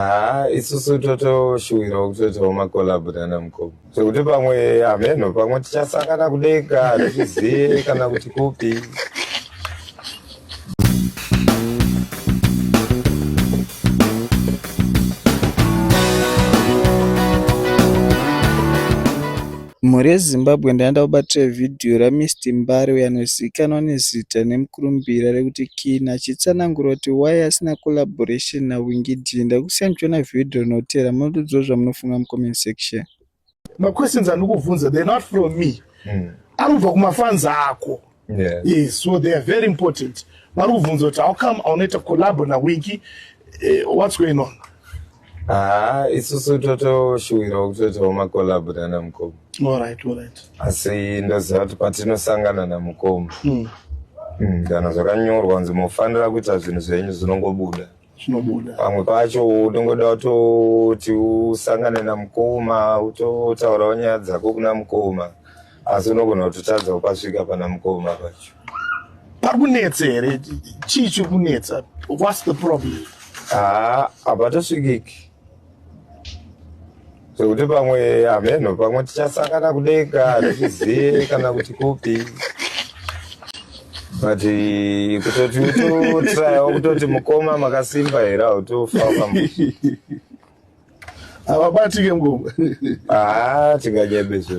haa isusu totoshuwirawo kutoitawo makolabhu nana mukoma zvekuti pamwe hameno pamwe tichasangana kudenga hatizvizive kana kuti kupi Mhuri yeZimbabwe ndaenda kubatira vhidhiyo raMister Mbare uyo anozivikanwa nezita nemukurumbira rekuti Kinney achitsanangura kuti why asina collaboration naWinky Dee. Ndakusiyai muchiona vhidhiyo rinotevera mototiudzawo zvamunofunga mucomment section. Maquestions andikuvhunza they're not from me. Mm. Anobva kumafans ako. Yeah. Yes, so they are very important. Vari kubvunza kuti how come aunoita collabo naWinky eh, what's going on? Ah, isusu totoshuwirawo kutoitawo macollabo nana mukoma. All right, all right. Asi ndoziva kuti patinosangana namukoma. Mm. Mm, kana zvakanyorwa kunzi mofanira kuita zvinhu zvenyu zvinongobuda. zvinobuda pamwe pacho unongoda utoti usangane namukoma utotaurawo nyaya dzako kuna mukoma asi unogona kutotadza kupasvika pana mukoma pacho pari kunetsa here chii chiri kunetsa whats the problem haa ah, habatosvikiki zvekuti pamwe hameno pamwe tichasangana kudenga hazvizive kana kuti kupi but eh, kutoti utotrayawo kutoti mukoma makasimba here hautofa havabatike mukoma haa ah, tinganyebe zvedu